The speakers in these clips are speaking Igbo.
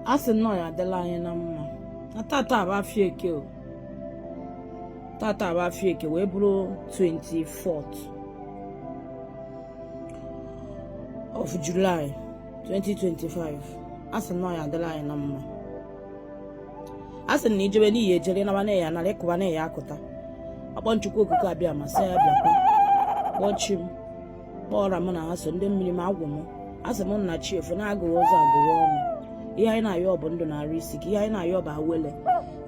a sị na ọ ya adịla anyị na mma na tata bụ afịa eke o tata bụ afịa eke wee bụrụ 24th of July 2025 a sị na ọ ya adịla anyị na mma a sị na i jebe na i ya ejeru ị naba na ị ya anaru ị kụba na ị ya akụta akpọọ m chukwu okike abịama sị ya bịakwa kpọọ chi m kpọọ ọra m na ha so ndị mmiri m agwụ m asị m na chi efo na a gụghee ụzọ a gụghee ọnụ ihe anyị na-ayọ bụ ndụ na arụ isi ike ihe anyị na-ayọ bụ awele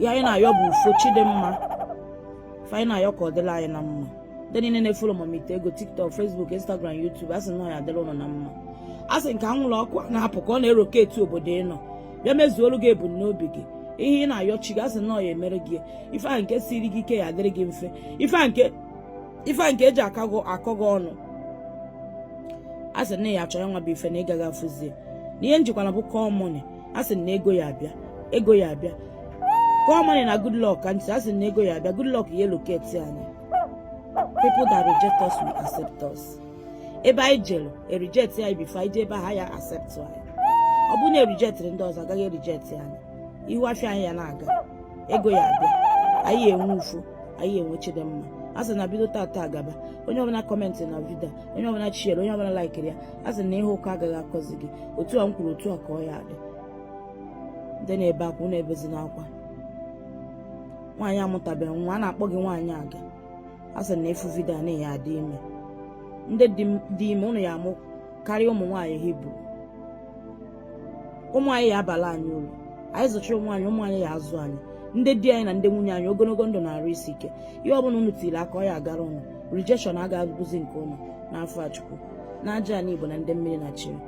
ihe anyị na-ayọ bụ ufo chi dị mma ife anyị na-ayọ ka ọ dịla anyị na mma ndị niile na-efolo m ite ego tiktok facebook instagram youtube asị na ọ ya adịrị ụnụ na mma asị na ka anwụrụ ọkụ na-apụ ka ọ na-eloketi obodo ị nọ bịa mezuolu gị ebumnobi gị ihe ị na-ayọ chi gị asị na ọ ya emere gị ife ahụ nke siri gị ike ya adịrị gị mfe ife ahụ nke ife a nke eji akọ gị akọ gị ọnụ a sị na ị ya achọ ya nwa bụ ife na ị gaghị afụzi ya na ihe m jikwana bụ call money a sị na ego ya abịa ego ya abịa call money na good luck candle a sị na ego ya abịa good luck ya eloketi anyị people that reject us will accept us ebe anyị jere e reject anyị before anyị jee ebe ha ya accept anyị ọ bụrụ na erijetịrị ndị ọzọ agaghị erijetị anyị ihu afịa anyị ya na-aga ego ya abịa anyị enwe ufo anyị enwe chi dị mma a sị na bido tata agaba onye ọbụla kọmentị na vidio onye ọbụla shiere onye ọbụla laikiri ya a sị na ihe ụkọ agaghị akọzi gị otu a m kwuru otu a ka ọ ya adị ndị na-ebe akwa na ebezina akwa nwaanyị amụtabeghị nwa a na-akpọ gị nwaanyị aga a sị na ị fụ vidio a na ị ya adị ime ndị dị ime ụnụ ya amụ karịa ụmụ nwaanyị hibru ụmụ anyị ya abala anyị uru anyị zụchara ụmụ anyị ụmụ anyị ya azụ anyị ndị di anyị na ndị nwunye anyị ogologo ndụ na arụ isi ike ihe ọbụla unu tiri aka ọ ya agara ụnụ rejection agaghị abụzi nke ụnụ n'afa chukwu na aja ala igbo na ndị mmiri na chiri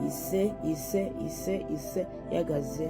ise ise ise ise ya gazie